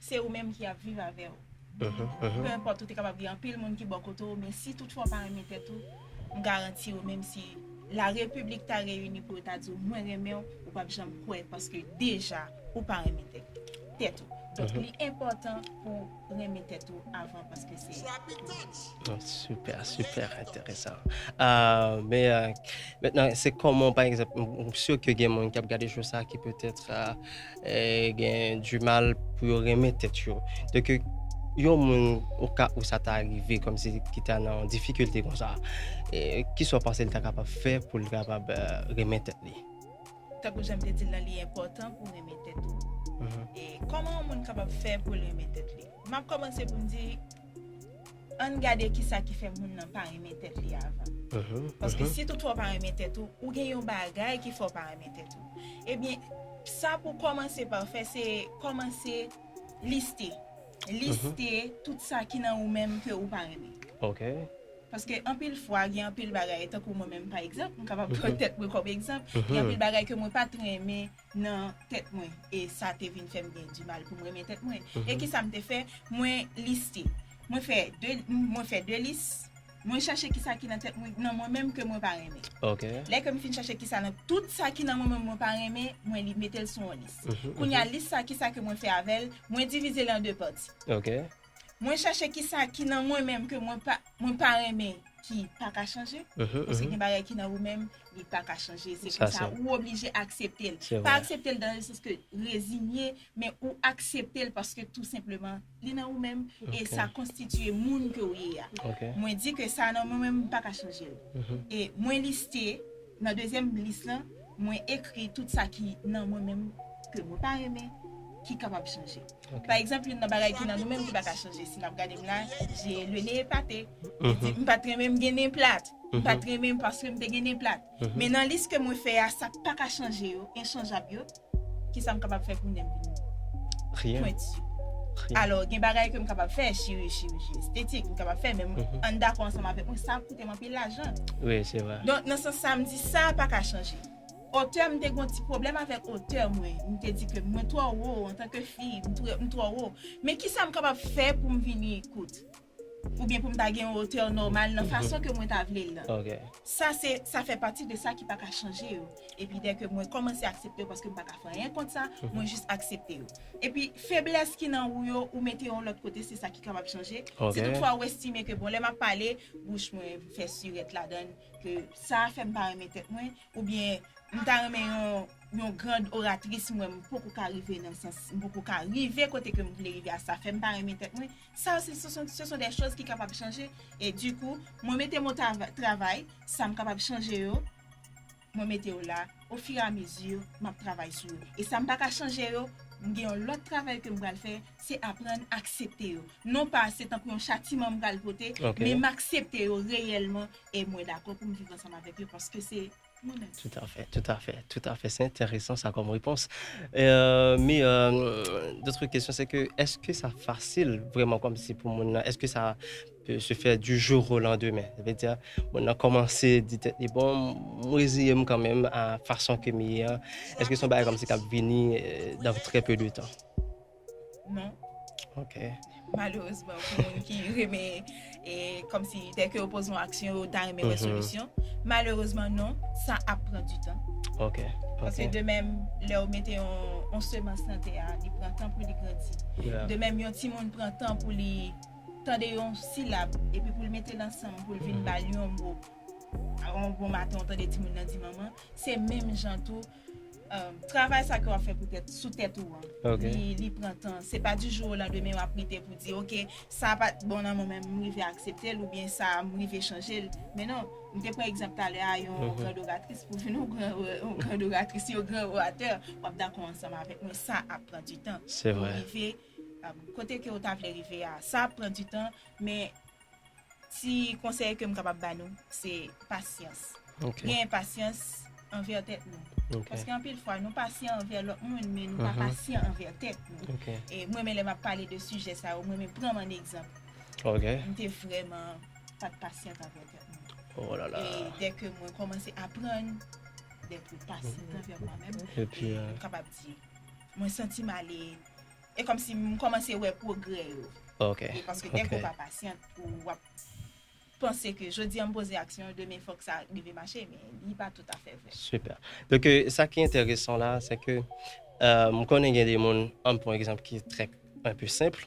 Se ou menm ki ap viv avè ou. Peu importe ou te kapab gen anpil moun ki bò kote ou men si toutfwa ou pa renmen tèt ou, m garanti ou menm si la repiblik ta reyini pou yo ta di ou mwen renmen ou, ou pap janm kwè paske deja ou pa renmen tèt ou. Donk li enpòtan pou renmen tèt ou avan paske se pou ou. Super, super enteresan. Men mentnan se kòman pa egzanp m sure ke gen moun kap gade show sa ki peut etre gen du mal pou yo renmen tèt yo donk yon moun oka ou sa ta rive kòmsi ki ta nan difikilte konsa ki sa w panse li ta kapab fè pou li kapab renmen tèt li tankou jan m te di l lan li enpòtan pou w renmen tèt ou kòman yon moun kapab fè pou l renmen tèt li m ap kòmanse pou m di. Ann gade kisa ki fè moun nan pa renmen tèt li avan. Paske si toutfwa w pa renmen tèt ou, ou gen yon bagay ki fè w pa renmen tèt ou. Ebyen, sa pou w kòmanse pa w fè, se kòmanse liste. Liste tout sa ki nan ou menm ke ou pa renmen. Paske anpil fwa, gen anpil bagay, tankou mwen menm pa egzanp, m kapab pran tèt mwen kòm egzanp, gen anpil bagay ke mwen pa t renmen nan tèt mwen e sa te vin fè m gen dimal pou m renmen tèt mwen. E ki sa m te fè? Mwen liste. Mwen fè de, mwen fè de lis. Mwen chache ki sa ki nan tèt mwen, nan mwen menm ke mwen pa renmen. Lè ke m fin chache ki sa nan tout sa ki nan mwen menm mwen pa renmen, mwen li mete l sou yon lis. Kounye a lis sa ki sa ke mwen fè avè l? Mwen divize l an de pati. Mwen chache kisa ki nan mwen menm ke mwen pa mwen pa renmen ki pa ka chanje paske gen bagay ki nan ou menm li pa ka chanje se konsa ou oblije akseptel pa akseptel dan le sans ke rezinye men ou akseptel paske tou senpleman li nan ou menm e sa konstitiye moun ke ou ye a mwen di ke sa nan mwen menm m pa ka chanjel e mwen liste nan dezyèm lis lan mwen ekri tout sa ki nan mwen menm ke mwen pa renmen ki kapab chanje. Pa egzanp, youn nan bagay ki nan nou menm ki pa ka chanje, si n ap gade m la, je le nez est pate, li di m pa t renmen m gen nen plat, m pa t renmen m paske m te gen nen plat. Men nan lis ke mwen fè a, sa k pa ka chanje yo, enchanjab yo, ki sa m kapab fè pou nen m vin pwenti? Alò, gen bagay ke m kapab fè, chiriji estetik, m kapab fè, men ann dakò ansanm avèk mwen sa. te anpil lajan. Wi se vre. Donk nan sans sa m di sa a pa ka chanje. Otè m te gen yon ti pwoblèm avèk otè mwen. M te di ke mwen twò wo antanke fi, m twò wo. Men kisa m kapab fè pou m vini kout? Oubyen pou m ta gen yon otè nòmal nan fason ke mwen ta vle l lan. Sa se, sa fè pati de sa ki pa ka chanje yo. Epi dè ke mwen kòmanse aksepte yo paske m pa ka fè anyen kont sa, mwen jis aksepte yo. Epi feblès ki nan ou yo, ou mete yo yon lòt kote, se sa ki kapab chanje. Si tout fwa ou estime ke bon lè m ap pale, bouch mwen fè sirèt ladan l, ke sa a fè m pa renmen tèt mwen, oubyen m ta renmen yon grand oratrice m wè m poko ka rive nan sans, m poko ka rive kote ke m vle rive a, sa fè m pa renmen tèt mwen, sa yo se son dè choz ki kapab chanje. E di kou, mwen mete mo travay, sa m kapab chanje yo. mwen mete yo la o fur et à mesure map travay sou yo e sa m paka chanje yo m gen yon lòt travay ke m pral fè se aprann aksepte yo non pa se tankou yon chatiman m pral pote men m aksepte yo reyèlman e mwen dakò pou m viv ansanm avèk yo paske se mwen menm. Toutafè, toutafè, toutafè se enteresan sa kòm repons men d'autres questions se ke eske sa fasil vrèman kòmsi pou moun nan eske sa Se fè du jour au lendemain. Sa vle di moun nan kòmanse di tèt li bon m reziye m kanmenm a fason ke m ye an. Eske se yon bagay kòmsi k ap vini dans très peu de temps? Non. Ok. Malerezman pou moun ki renmen e kòmsi dè ke yo poze yon aksyon yo ta renmen wè solisyon. Malerezman non, sa ap pran du tan. Ok. Paske de menm lè ou mete yon semans nan tè a, li pran tan pou li grandi. De menm yon timoun pran tan pou li. tande yon silab epi pou l mete l ansanm pou l vin ba l yon mo yon bon maten ou tande timoun nan di manman se menm jan tou travay sa ke w ap fè poutèt sou tèt ou an li pran tan se pa di jou o landemen w ap rete pou di ok sa a pa t bon nan mwen men m rive aksepte l oubyen sa a m rive chanje l men non m te pran egzanp talè a yon grand oratris pou vin yon grand oratris yon grand oratè w ap dakò ansanm avèk mwen sa ap pran di tan pou rive Kote ke ou ta vle rive a, sa ap pran du tan, men ti konsèy ke m kapab ba nou, se pasyans. Genyen pasyans anvè tèt nou. Paske anpil fwa nou pasyan anvè lòt moun, men nou pa pasyan anvè tèt nou. E m renmen lè m ap pale de sijè sa yo, m renmen pran m an egzanp. M te vrèman pa t pasyant anvè tèt mwen. E dè ke mwen kòmanse aprann dèt mwen pasyant anvè mwen menm, m kapab di, mwen santi m ale. e kòmsi m kòmanse wè pwogrè yo. Ok. E paske dèke ou pa pasyant ou wap panse ke jodi an m poze aksyon, demen fòk sa rive mache, men li pa toutafè vre. Super. Dèke sa ki enteresan la, sèke m konnen gen de moun, an pran egzanp ki trè enpe senpl,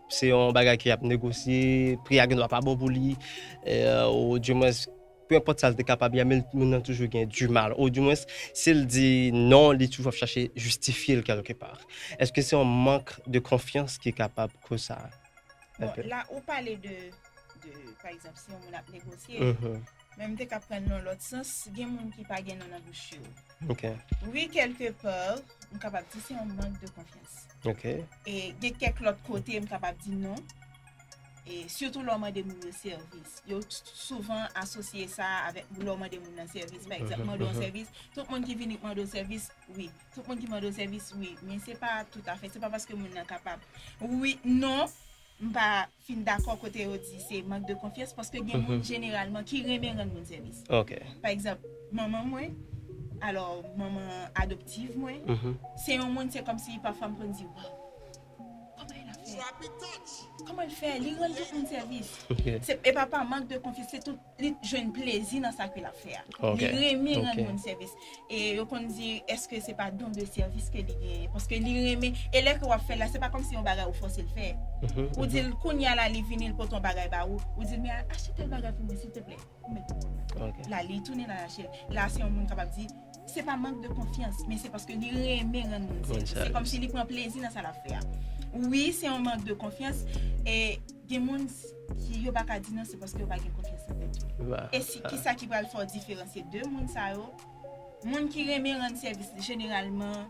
Se yon bagay ke yap negosye, pri a gen dwa pa bon pou li, ou di mwens, pe enpòt sa l te kapab ye, men moun nan toujou gen di mal, ou di mwens, si l di non, li toujou ap chache jistifye l kèlke pa. Eske se yon mank de konfyans ki kapab koz sa? Bon, la ou pale de, pa egzanp, si yon moun ap negosye, Men m te ka prann nan lòt sans, gen moun ki pa gen non nan bouch yo. Ok. Wi kèlke par, m kapab di se yon mank de konfyans. Ok. E gen kèk lòt kote m kapab di non. E sitou lè w mande moun yo sèvis. Yo souvan asosye sa avèk lè w mande moun nan sèvis. Pa egzanp, mande yon sèvis, tout moun ki vini k mande w sèvis, wi. Tout moun ki mande w sèvis, wi. Men se pa toutafè, se pa paske moun nan kapab. Wi, non, m pa. fin dakò kote yo di se mank de konfyans paske gen moun jeneralman ki renmen rann moun sèvis. Pa egzanp, manman mwen, alò manman adoptiv mwen, se yon moun se kòmsi pafwa m konn di waw, kòman el ap fè? Kòman l fè? Li rann tout moun sèvis. Se pa pa mank de konfyans, se tout. li jwenn plezi nan sa ke lap fè a. Li renmen rann moun sèvis. E yo konn di eske se pa don de sèvis ke li genyen. Paske li renmen, e lè ke wap fèl la se pa kòmsi yon bagay ou fòsel fè. Ou dil kounya la li vini li pote yon bagay ba ou, ou dil men achte tèl bagay pou mwen silteplè. Ou met pou mwen. La li tounen lal achel. La se yon moun kapab di, se pa mank de konfyans, men se paske li renmen rann moun sèvis. Se kòmsi li pran plezi nan sa lap fè a. Wi se yon mank de konfyans, e gen moun. Si yo pa ka di non se paske yo pa gen konfyans nan tèt yo. E si kisa ki pral fè w diferansye 2 moun sa yo, moun ki renmen rann sèvis jeneralman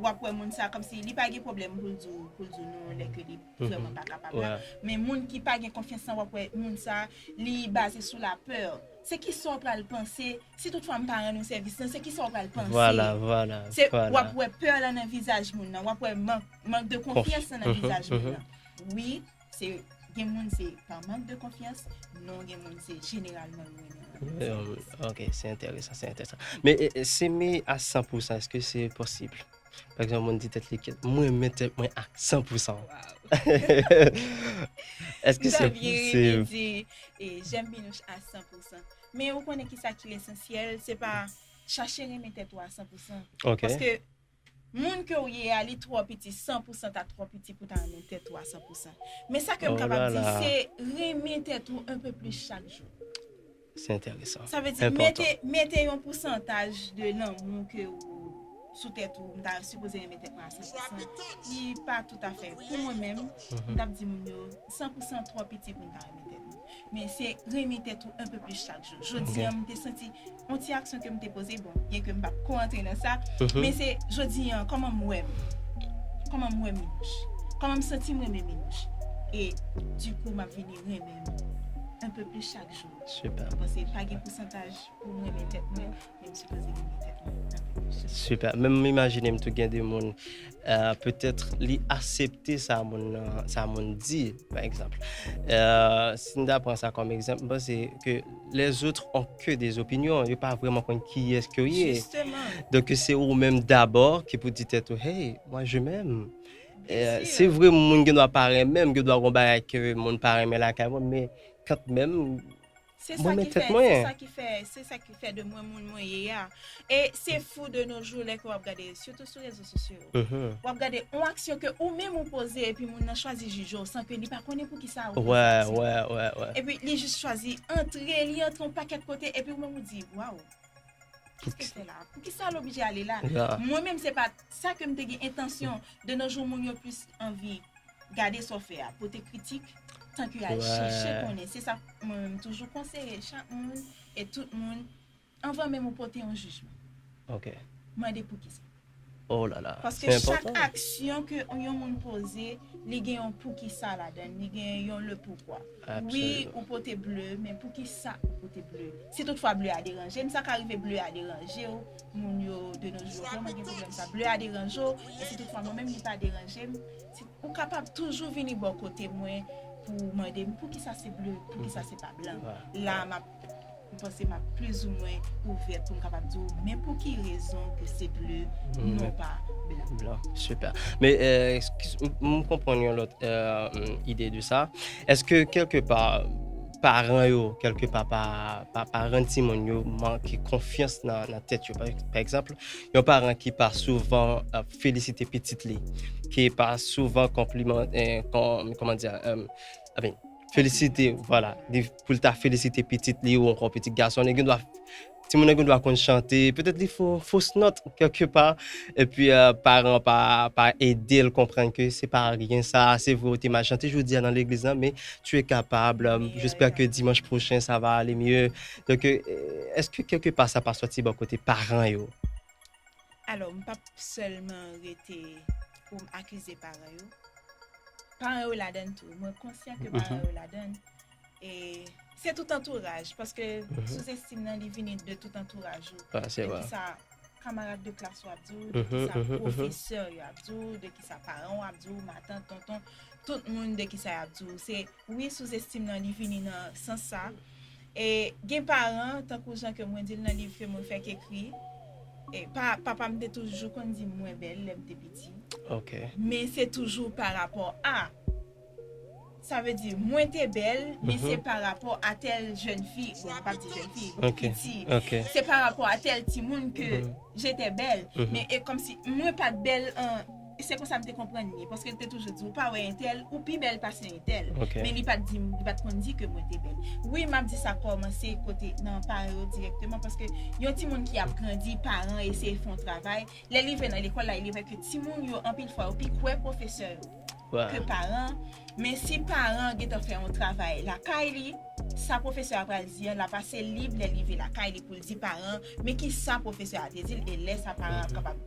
wap wè moun sa kòmsi li pa gen pwoblèm pou l di w pou l di w non lè ke li vrèman pa kapab la, men moun ki pa gen konfyans nan wap wè moun sa li baze sou la peur, se kisa w pral panse si tout fwa m pa rann ou sèvis lan se kisa w pral panse, se wap wè peur lan nan vizaj moun nan, wap wè mank de konfyans lan nan vizaj moun nan wi. Se gen moun se pa mank de konfyans, non gen moun se jeneralman yo renmen lanmou an. Hum, ok, se enteresan, se enteresan. Men e, e, s'eme a 100 pou 100, eske se posib? Pa egzanp, yon moun di tèt li ke, m renmen tèt mwen a 100 pou 100. Eske M se ta vle rete posib? di, e, j'aime Minouche a 100 pou 100. Men ou konnen kisa ki lesansyèl, se pa chache renmen tèt ou a 100 pou 100. Ok. Paske. Moun kew ye a li twò piti san pou san ta twò piti pou ta renmen tèt ou a san pou san men sa kem kapab di se renmen tèt ou un peu plus chak jou se enteresan sa vle di mete mete yon pou santaj de lanmou ke ou sou tèt ou mta sipoze renmen tèt mwen a san pou san ki pa tou afè pou mwen menm mtap di moun yo. 100 pou 100 twò piti pou m ta renmen tèt m. Men se renmen tèt ou un peu plus chak jou. Jodi an m te santi yon ti aksyon ke m te poze, bon, byen ke m pa p ko antre nan sa, men se jodi an kòman m wè m, kòman m wè Minouche, kòman m santi m renmen Minouche e du coup m ap vini renmen m un peu plus chak jou. Mwen panse pa gen pousantaj pou m renmen tèt mwen. Menm sipoze gen petèt moun nan kèk kesyon. Super. Menm m imajine m tou gen de moun petèt li asepte sa moun nan, sa moun di pa egzanp. Si n ta pran sa kòm egzanp, m panse ke lèzot on ke de zopinyon, yo pa vrèman konn kiyès ke w ye. Jisteman. Donk se ou menm dabò ki pou di tèt ou hey, mwa je menm. Se vre moun gen dwa pa renmen m, gen dwa gen bagay ke moun pa renmen lakay mwen men kantmenm. Se sa ki fè, se sa ki fè, se sa ki fè de mwen moun mwen ye a. E se fou de nou jou lè ke wap gade, sitou sou rezo sosyo yo, mm-hmm. wap gade on aksyon ke ou menm ou poze epi moun nan chwazi jije ou san ke li pa konnen pou ki sa ou poze aksyon. Wè, wè, wè, wè. Epi li jis chwazi antre, li antre on pakèt kote epi ou menm ou di, waw, kis ke fè la? Pou ki sa l oblije ale la? Mwen menm se pa sa ke m te gen entansyon. De no jou moun yo plis anvi. Gade sa w fè a, pote kritik tanke al chèche konnen. Se sa mwen menm toujou konseye chak moun e tout moun, anvan menm ou pote yon jijman. Ok. Mande poukisa. Oh la la, se enpòtan. Paske chak aksyon ke yon moun poze, li gen yon poukisa ladan l, li gen yon le poukwa. Absoliman. Wi, ou pote ble, men poukisa ou pote ble? Si tout fwa ble a deranje m, sa ka rive ble a deranje w. moun yo de nos jours lè mwen gen pwoblèm sa bleu a deranje w e si tout fwa mwen menm li pa deranje m ou kapab toujou vini bò kote mwen pou w mande m poukisa se bleu poukisa se pa blan la a m ap m panse m ap plis ou mwen ouvè pou m kapab di w men pou ki rezon ke se bleu non pa blan. Super. Men m konprann yon lòt ide de sa. Eske kèlke pa Paran yo, kèlke pa, pa rann timoun yo manke konfyans nan tèt yo. Pa egzanp, yon paran ki pa souvan ap felisite pitit li, ki pa souvan konpliman, kòman di a, felisite, vwala, pou l ta felisite pitit li ou ankò pitit gason li, gen dwa. Timoun nan gen dwa konn chante, petèt li fè yon fos nòt kèlke pa, epi paran an pa ede l konprann ke se pa anyen sa, se vre ou te mal chante jodi a nan legliz lan men tu es capable, j'espère que dimanche prochain ça va aller mieux. Donk èske kèlke pa sa pa sòti bò kote paran yo? Alò m pap sèlman rete pou m akize paran yo, paran yo ladann tou, mwen konsyan ke paran yo ladann. E se tout antouraj, paske sou zestim nan li vini de tout antouraj ou. Ah, se vre. De ki sa kamarad de klas ou ap di ou, de ki sa pwofesè yo ap di ou, de ki sa paran ou ap di ou, matant, tonton, tout moun de ki sa y ap di ou. Se, wi sou zestim nan li vini nan sans sa. E gen paran, tankou jan ke mwen di l nan liv Fe moun fèk ekri, e pa, papa m te toujou konn di m mwen bèl lè m te piti. Ok. Men se toujou pa rapò a. Sa vle di, mwen te bèl, men se pa rapò a tèl jèn fi, bon nou pap di jèn fi, piti, se pa rapò a tèl timoun ke j'étais belle, men e kòm si mwen pat bèl an, se konsa m te konprann li, paske li te toujou di ou pa wè entèl, ou pi bèl pase entèl, men li pat di m, li pat konn di ke mwen te bèl. Wi map di sa kòmanse kote nan paran yo dirèkteman, paske yon timoun ki ap grandi, paran eseye fè yon travay, lè li rive nan lekòl la e li wè ke timoun yo anpil fwa yo pi kwè pwofesè yo, ke paran, men si paran an gentan fè yon travay lakay li, sa pwofesè a pral di an, l ap ase lib lè l rive lakay li pou l di paran an, men ki sa pwofesè a te di l, e lè sa paran an kapab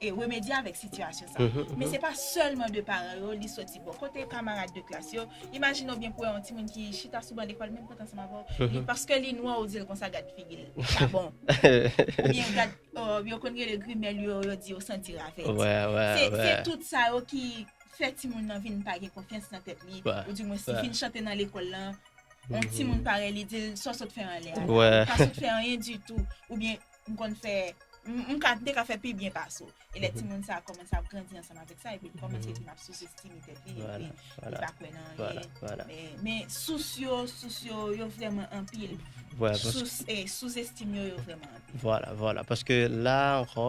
e remedye avèk sitiyasyon sa. Men se pa sèlman de paran yo, li soti bò kote kamarad de klas yo, imajine w byen pou wè yon timoun ki chita sou ban lekòl menm pot ansanm avè w, li paske li nwa ou di l konsa gad figi l, pa bon, oubyen gad. Ooh yo konn rele grimèl yo yo di yo santi ravèt. Wè wè wè. Se tout sa yo ki fè timoun nan vin pa gen konfyans nan tèt li ou di mwens li fin chante nan lekòl la yon timoun parèy li dil sa sot fè anlè a la ou pa sot fè anyen ditou oubyen m konn fè m ka m te ka fè pi byen pase w e lè timoun sa a kòmanse ap grandi ansanm avèk sa epi li kòmanse vin ap sousestime tèt li epi li pa kwè nan anyen men sous yo sous yo yo vrèman anpil sous e sousestime yo yo vrèman anpil. Vwala vwala paske la ankò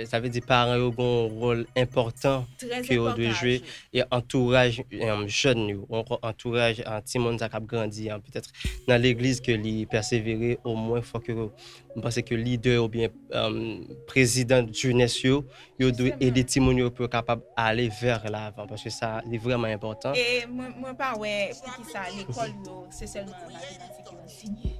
sa vle di paran yo gon wòl enpòtan ke yo dwe jwe e antouraj jèn yo ou ankò antouraj timoun sa k ap grandi an petèt nan legliz ke li pèsevere omwen fòk yo m panse ke lidè oubyen prezidan jenès yo yo dwe ede timoun yo pou yo kapab ale vè lavan paske sa li vrèman enpòtan. E mwen pa wè poukisa lekòl yo se sèlman matematik yo. Anseye.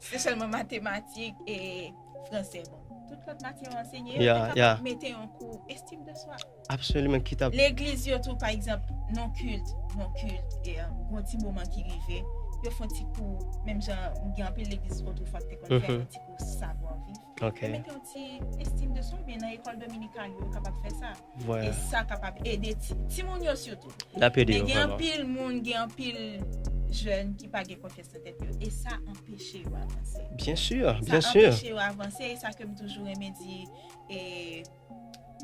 Se sèlman matematik e franse bon. Tout lòt matyè yo anseye yo. Yo te kapab mete yon kou estim de swa. Absoliman ki ta. Legliz yo tou pa egzanp nan kilt, nan kilt e yon ti moman ki rive. Yo fon ti kou menm jan gen anpil legliz otro fwa ki te konn fè yon ti kou savwa viv. Ok. Mete yon ti estime de soi oubyen nan ekòl dominican yo kapab fè sa. E sa kapab ede timoun yo sitou. Lap ede yo vrèman. Men gen anpil moun, gen anpil jèn ki pa gen konfyans nan tèt yo e sa anpeche yo avanse. Byen sûr, byen sûr. Sa anpeche yo avanse e sa kem toujou renmen di e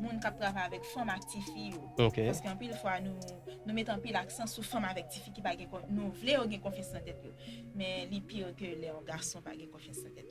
moun kap travay avèk fanm ak tifi yo. Ok. Paske anpil fwa nou met anpil aksan sou fanm avèk tifi ki pa gen, nou vle yo gen konfyans nan tèt yo. Men li pire ke lè yon gason pa gen konfyans nan tèt li.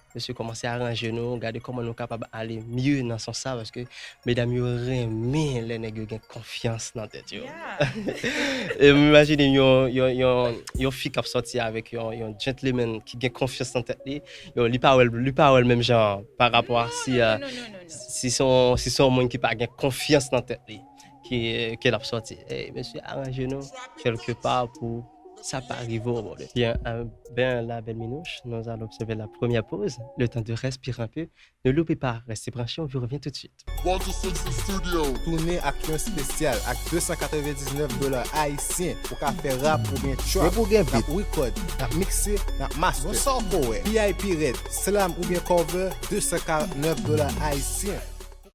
Mesye komanse aranje nou gade koman nou kapab ale mye nan sans sa paske medam yo renmen lè nèg yo gen konfyans nan tèt yo. E m imajine yon fi k ap sòti avèk yon gentleman ki gen konfyans nan tèt li, yo li pa wè l li pa wè l menm jan parapò a si se yon moun ki pa gen konfyans nan tèt li. ke ke lap sòti ey mesye aranje nou kelke pa pou sa pa rive w bòdè. Byen a byen la bèl minouch nous allons observer la première pause le temps de respirer un peu ne loupez pas restez branchés on vous revient tout de suite. Walter Simpson Studio. Tounen ak yon spesyal ak 299 dola ayisyen ou ka fè rap oubyen trap depi w gen beat nap record nap mixe nap master bon sa w ko wè vip red slam oubyen cover 249 dola ayisyen.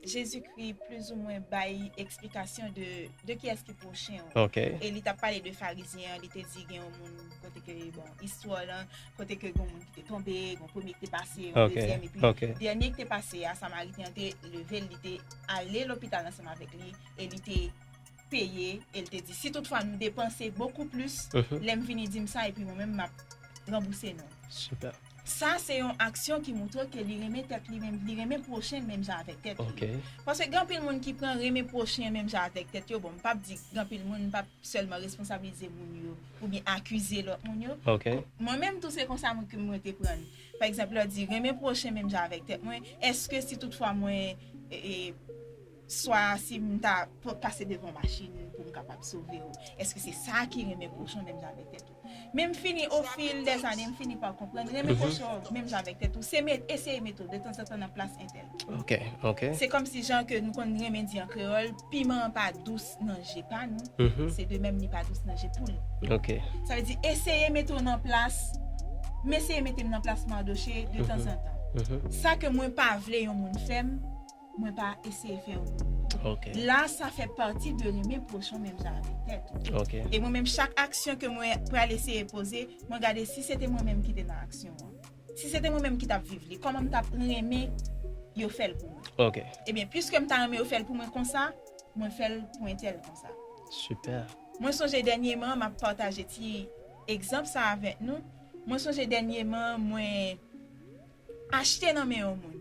Jezikri plizoumwen bay eksplikasyon de kiyès ki pwochen ou. E li t ap pale de Farizyen an, li te di gen yon moun kote ke, bon, istwa w lan, kote ke gen yon moun ki te tonbe, gen yon premye ki te pase, yon dezyèm, epi dènye ki te pase a, Samariten an te leve l, li te ale lopital ansanm avèk li, e li te peye, e l te di, si toutfwa nou depanse bokou plis, lè m vini di m sa, epi mwen menm m ap ranbouse nou. Sa se yon aksyon ki moutre ke li renmen tèt li menm, li renmen pwochen l menm jan avèk tèt li. Ok. Paske gen anpil moun ki pran renmen pwochen menm jan avèk tèt yo, bon m pap di gen anpil moun, m pap sèlman responsabilize moun yo oubyen akize lòt moun yo. Ok. Mwen menm tou se konsa mwen ke mwen te pran l. Pa egzanp lè w di renmen pwochen menm jan avèk tèt mwen, èske si tout fwa mwen. Swa si m ta pase devan machin ou pou m kapab sove ou. Eske se sa ki renmen kochon menm jan avèk tèt ou? Men m fini o fil dè ane m fini pa konprann renmen kochon menm jan avèk tèt ou se eseye mete w de tanzantan nan plas entèl. Se kòmsi jan ke nou konn renmen di an kreyòl piman an pa dous nan je pa nou se de menm li pa dous nan je poul. Sa vle di eseye mete w nan plas m eseye mete m nan plas Mardochée de tanzantan. Sa ke mwen pa vle yon moun fè m. Mwen pa eseye fè ou Ok. La sa fè pati de nou men pwochon menm jan avèk tèt ou. Ok. E mwen menm chak aksyon ke mwen pral eseye poze, mwen gade si se te mwen menm ki te nan aksyon an. Si se te mwen menm ki tap viv li, kòman m tap renmen yo fèl pou mwen. Ok. Ebyen pwiske m ta renmen yo fèl pou mwen konsa, mwen fèl pou entèl konsa. Super. Mwen sonje dènyeman an map pataje ti egzanp sa avèk nou, mwen sonje dènyeman an mwen Achte nan men yon moun.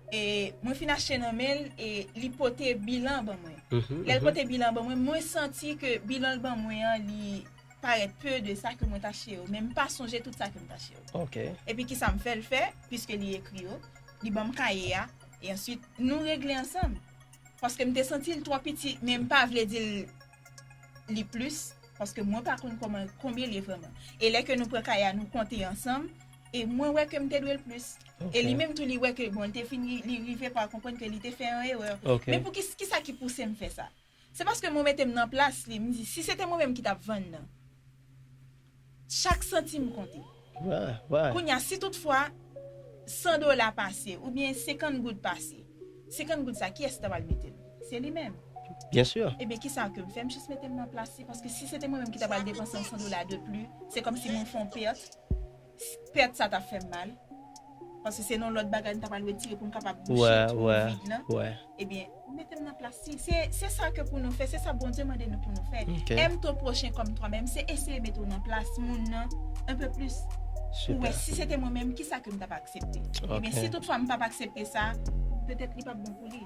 E mwen fin achte nan men l e li pote bilan ban mwen. Lè l pote bilan ban mwen, mwen santi ke bilan l ban mwen an li parèt peu de sa ke mwen t achte yo. Men m pa sonje tout sa ke m t achte yo. Epi kisa m fè l fè, piske li ekri yo, li ban m kaye a, e answit nou regle ansanm. Paske m te santi l twò piti, men m pa vle di l li plis paske mwen pa konn koman konbyen li ye vrèman e lè ke nou pran kay a nou konte ansanm e mwen wè ke m te dwe l plis e li menm tou li wè ke bon li te fin li rive pa konprann ke li te fè yon erè men pou ki kisa ki pouse m fè sa se paske mwen mete m nan plas li m di si se te mwen menm ki t ap vann nan. Chak santim konte. Kounye a, si tout fwa 100 dola pase, oubyen 50 goud pase, 50 goud sa, kiyès ki ta pral mete l? Se li menm. Ebyen, kisa ke m fè? M jis mete m nan plas li, paske si se te mwen menm ki ta pral depanse yon 100 dola de pli, se kòmsi mwen fè yon pèt. Pèt sa ta fè m mal. Paske se yon lòt bagay nou ta pral retire pou nou kapab bouche twou vid lan. Ebyen, ou mete m nan plas li. Se sa ke pou nou fè, se sa Bondye mande nou pou nou fè. Aime ton prochain comme toi même se eseye mete w nan plas moun nan un peu plus pou w wè si se te mwen menm ki sa ke m t ap aksepte. Ebyen, si tout fwa m p ap aksepte sa, petèt li p ap bon pou li.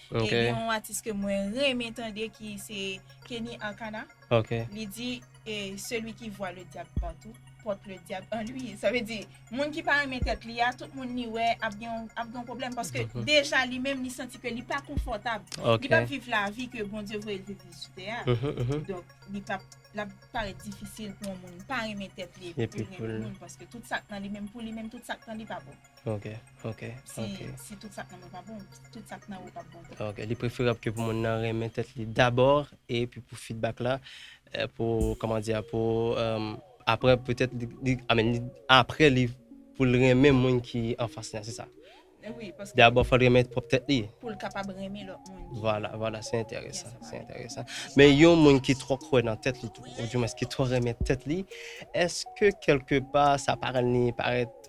E gen yon atis ke mwen renmen tande ki se Kenny Arcana. Li di e celui qui voit le diable partout porte le diable en lui. Sa vle di, moun ki pa renmen tèt li a, tout moun li wè ap gen yon pwoblèm. Paske deja li menm li santi ke li pa konfòtab. Li pap viv lavi ke Bondye voye l viv li sou tè a. Donk li pap, l ap parèt difisil pou yon moun pa renmen tèt li epi pou l renmen moun. Paske tout sa k nan li menm pou li menm, tout sa k nan li pa bon. Ok, ok. Si tout sa k nan mwen pa bon, tout sa k nan ou p ap bon tou. Ok, li preferab ke pou moun nan renmen tèt li dabor e pi pou fidbak la, pou koman di a, pou apre petèt li, a men apre li pou l renmen moun ki anfas li an, se sa? Wi, paske. Dabor fò l renmen pwòp tèt li. Pou l kapab renmen lòt moun. Vwala, vwala, se enteresan, se enteresan. Men yon moun ki twò kwè nan tèt li tou, ou di mwens ki twò renmen tèt li, eske kelke pa sa pa rann li parèt.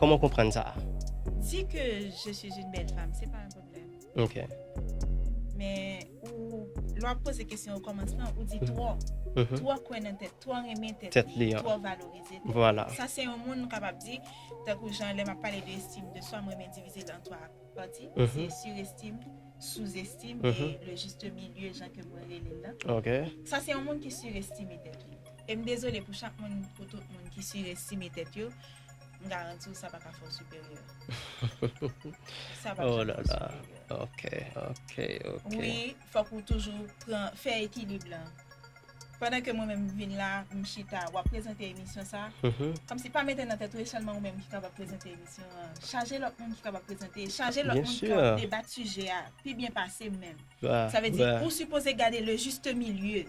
Koman w konprann sa a? Di ke je suis une belle femme se pa yon pwoblèm. Ok. Men ou, lè w ap poze kesyon okòmansman, ou di twò. Twò kwè nan tèt, twò renmen tèt li, twò valorize tèt li. Vwala. Sa se yon moun nou kapab di, tankou jan lè m ap pale de estime de swa, m renmen divize l an twa pati. Se surestime, sous-estime e le juste milieu jan ke mwen rele l lan. Ok. Sa se yon moun ki surestime tèt li. E m dezole pou chak moun, pou tout moun ki surestime tèt yo. M garanti w sa pa ka fè w siperyè. Sa pap janm fè w siperyè. Oh la la. Ok, ok, ok. Wi, fòk ou toujou pran, fè ekilib lan. Pandan ke mwen menm m vin la, m chita, w ap prezante emisyon sa, kòmsi pa mete nan tèt ou e sèlman ou menm ki kapab prezante emisyon an. Chaje lòt moun ki kapab prezante, chaje lòt moun ki kapab debat sijè a pi byen pase m menm. Sa vle di ou sipoze gade le juste milieu.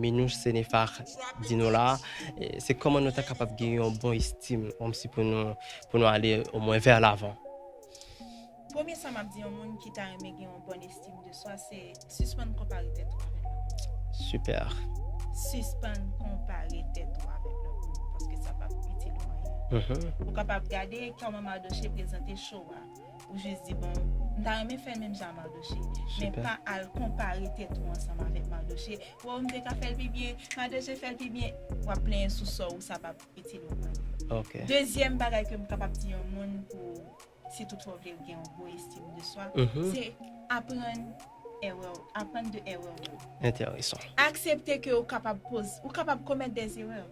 Minouche Senefar di nou la, se kòman nou ta kapab gen yon bon estim kòmsi pou nou pou nou ale omwen vè lavan. Premye sa map di yon moun ki ta renmen gen yon bòn estim de swa se sispann konpare tèt ou avèk lòt moun. Super. Sispann konpare tèt ou avèk lòt moun paske sa pap itil ou anyen. Ou kapab gade kòman Mardochée prezante show a. Ou jis di bon m ta renmen fè menm jan a Mardoche men pa al konpare tèt ou ansanm avèk Mardoche waw m te ka fèl pi byen Mardoche fèl pi byen wap plenyen sou sò ou sa pap itil ou anyen dezyèm bagay kem kapab di yon moun pou si tout fwa w vle gen yon gwo estim de swa se aprann erè w aprann de erè w yo aksepte ke ou kapab poz ou kapab komèt dè zerè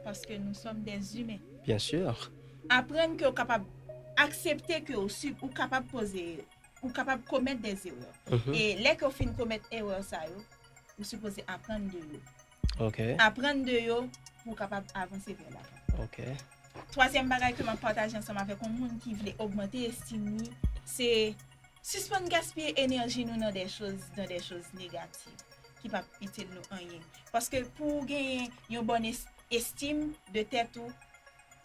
paske nou sòm dè zimen. Aprann ke ou kapab aksepte ke ou sub ou kapab poze ou kapab komèt des erreurs e lè ke ou fin komèt erreur sa yo ou sipoze aprann de yo ok aprann de yo pou ou kapab avanse vè lavan ok twazyèm bagay ke map pataje ansanm avèk yon moun ki vle ogmante estim li se sispann gaspiye enèji nou nan dè choz nan dè choz negatif ki pap itil nou anyen paske pou ou genyen yon bòn estim de tèt ou.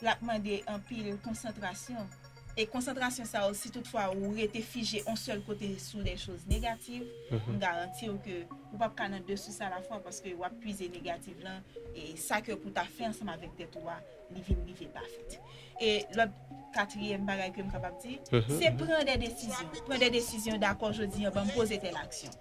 L ap mande anpil konsantrasyon. E konsantrasyon sa yo si tout fwa ou rete fije on sèl kote sou de choz negativ, m garanti w ke ou pap ka nan de sous alafwa paske w ap pwize negativ lan e sa ke pou ta fè ansanm avèk tèt ou a li vin rive pa fèt. E lòt katriyèm bagay ke m kapab di, se pran de desizyon. Pran de desizyon, dakò jodi an ban m poze tèl aksyon.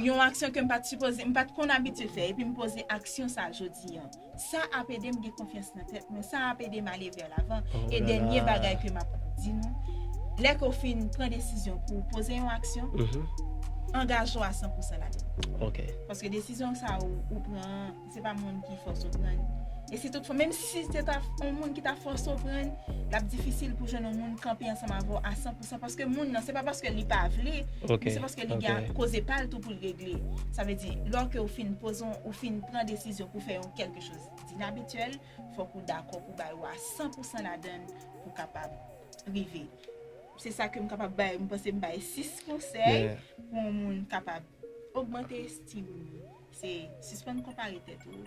Yon aksyon ke m pat sipoze, m pat konn abitye fè epi m poze aksyon sa jodi an. Sa ap ede m gen konfyans nan tèt mwen, sa ap ede m ale vè lavan. E dènye bagay ke m ap di nou, lè ke w fin pran desizyon pou w poze yon aksyon, angaje w a san pousan ladan l. Paske desizyon sa a ou pran an, se pa moun ki fòse w pran l. E si tout fwa, menm si se ta yon moun ki ta fòse w pran l, l ap difisil pou w jwenn yon moun kanpe ansanm avè w a 100 pou. Sa paske moun nan, se pa paske li pa vle, men se paske li gen koze pa l tou pou l regle. Sa vle di, lò ke ou fin poze yon, ou fin pran desizyon pou fè yon kèlke choz dinabityèl, fòk ou dakò pou bay wa san pou san ladan l pou kapab rive. Se sa ke m kapab bay, m panse m bay 6 konsèy pou yon moun kapab ogmante estim li. Se sispann konpare tèt ou.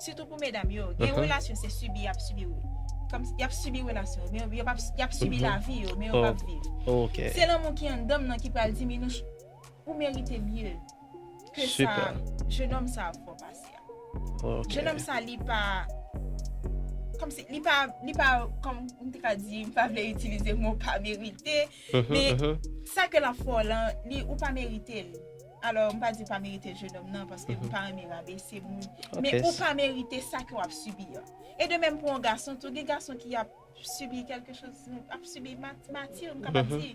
Sitou pou medam yo, gen relasyon se sibi yap sibi wi. Kòmsi yap sibi relasyon yo, men yo pap, yap sibi lavi yo, men yo pap viv. Se lanmou ki anndanm nan ki pral di Minouch ou merite mye ke sa jenòm sa ap fè w pase a. Jenòm sa li pa, kòmsi li pa, li pa kòm m te ka di, m pa vle itilize mo pa merite, men sa ke lap fè w lan, li ou pa merite l. Alò, m pa di ou pa merite l jenòm nan, paske m pa renmen rabese moun, men ou pa merite sa ke w ap sibi an. E de menm pou yon gason tou, gen gason ki ap sibi kèlke choz, ap sibi mati, m kapab di,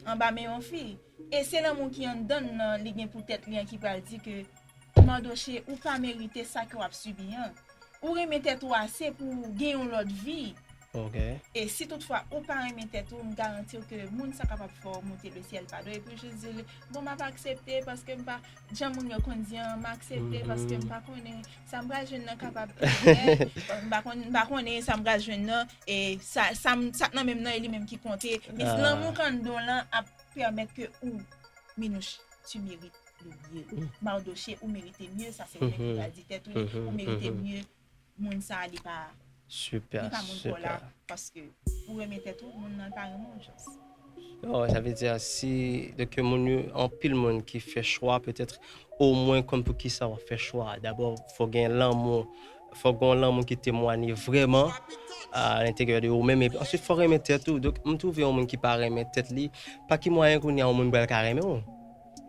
anba men yon fi. E se lanmou ki anndan l lan li gen pou tèt li an ki pral di ke, Mandoche, ou pa merite sa ke w ap sibi an. Ou renmen tèt ou ase pou w gen yon lòt vi, Ok. E si tout fwa ou pa renmen tèt ou, m garanti w ke moun sa kapab fè w moute le syèl pa do epi w jis di li, bon m ap aksepte paske m pa, jan moun yo konn di an, m aksepte paske m pa konnen sa m pral jwenn nan kapab rivyè, m pa konn, m pa konnen sa m pral jwenn nan e sa, sa m, sa k nan men m nan e li menm ki konte, means lanmou k anndan w lan ap pèmèt ke ou, Minouche, tu merites le mieux, Mardochée ou merite mye, sa se ou menm ki pral di tèt ou li, ou merite mye. moun sa li pa li pa moun paw la paske pou renmen tèt ou moun nan pa renmen w just. Oh sa vle di a si donk yo moun yo anpil moun ki fè chwa petèt o mwen konn pou kisa wap fè chwa a dabò fò gen lanmou fò gon lanmou ki temwanye vrèman a lenteryè de ou menm epi answit fò renmen tèt ou donk m twouve yon moun ki pa renmen tèt li pa ki mwayen kounya yon moun pral ka renmen w.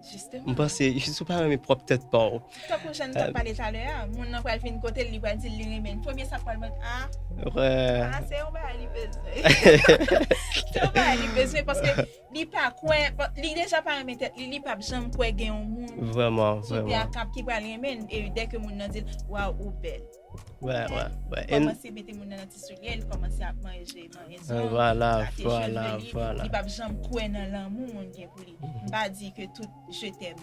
Justement. M'panse, si w pa renmen pwòp tèt pa w. Tankou jan nou t'ap pale talè a, moun nan pral vin kote l, li pral di l li renmen l. Premye sa pral mande, ah, ah se yon bagay li bezwen. Se yon bagay li bezwen paske li pa kwè, li deja pa renmen tèt li, li p'ap janm kwè gen yon moun. Vrèman, vrèman. Sou tè a k'ap ki pral renmen l e dèke moun nan di l, waw ou bèl. Wè, wè, wè. Li kòmanse mete moun nan nan ti soulye, li kòmanse ap manje, manje zòn. Vwala, vwala, vwala. Li pap janm kwè nan lanmou moun gen pou li. M pa di ke tout je tèm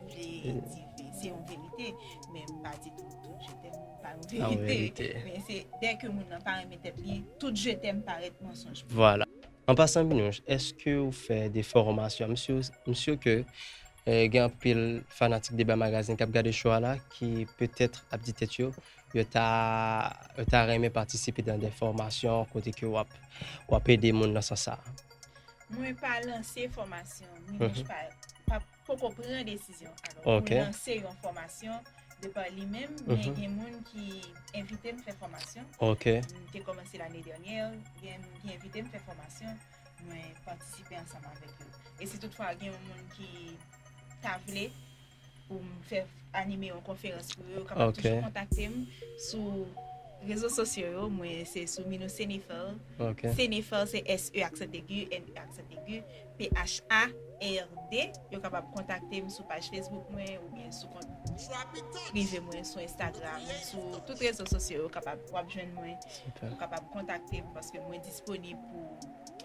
vle di ke se yon verite, men m pa di tou tout je tèm pa yon verite. Men se dèke moun nan pa renmen tèt li, tout je tèm parèt mansonj pou li. An pasan Minouche eske ou fè de fòromasyon? M sur ke gen anpil fanatik Deba Magazine kap gade show a la ki petèt ap di tèt yo yo ta yo ta renmen patisipe dan de fòmasyon kote ke wap wap ede moun nan sans sa a. Mwen pa lanse fòmasyon, Minouche pa pap poko pran desizyon alò pou Ok. lanse yon fòmasyon de pa li menm, men Mhm. gen moun ki envite m fè fòmasyon. Ok. M te kòmanse lane dènyè, gen moun ki envite m fè fòmasyon, mwen patisipe ansanm avèk yo. E si toutfwa gen yon moun ki ta vle pou m fè anime yon konferans pou yo, yo kapab Ok. toujou kontakte m sou rezo sosyo yo, mwen se sou Minou Senefèl, Ok. Senefèl se S-E aksantegi, N-E aksantegi. PHA, RD, yo kapab kontakte m sou paj Facebook mwen oubyen sou kont prive mwen sou Instagram, sou tout rezo sosyo yo kapab w ap jwenn mwen, ou kapab kontakte m paske mwen disponib pou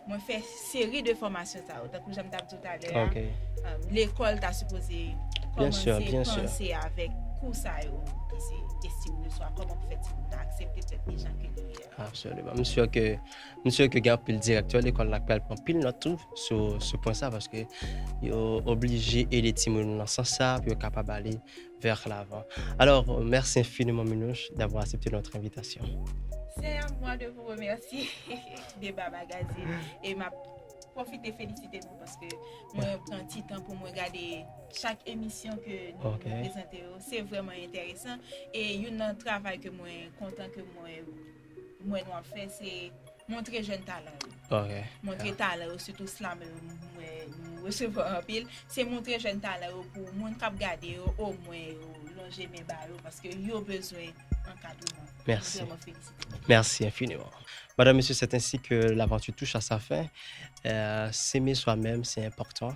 mwen fè seri de fòmasyon sa yo. Tankou jan m t ap di w talè a, lekòl ta sipoze kòmanse panse avèk kou sa yo ki se estime de swa, kòman pou fè timoun nan aksepte tèt li jan ke li ye a. M sur ke gen anpil direktè lekòl la k pral pran pil nòt tou sou pwen sa paske yo oblije ede timoun yo nan sans sa pou yo kapab ale vers l'avant. Alors, merci infiniment Minouche d'avoir accepté notre invitation. C'est à moi de vous remercier Deba Magazine et map pwofite felisite nou paske mwen pran ti tan pou mwen gade chak emisyon ke nou prezante yo. Se vrèman enteresan e youn nan travay ke mwen kontan ke mwen m wè nou ap fè se montre jèn talan yo. Ok. Montre talan yo sitou slamè yo m wè nou resevwa anpil, se montre jèn talan yo pou moun kap gade yo omwen yo lonje men ba yo paske yo bezwen ankadreman. Mèsi. M vrèman felisite nou. Merci infiniment. Madame, Messieurs, c'est ainsi que l'aventure touche à sa fin. Euh, s'aimer soi-même, c'est important.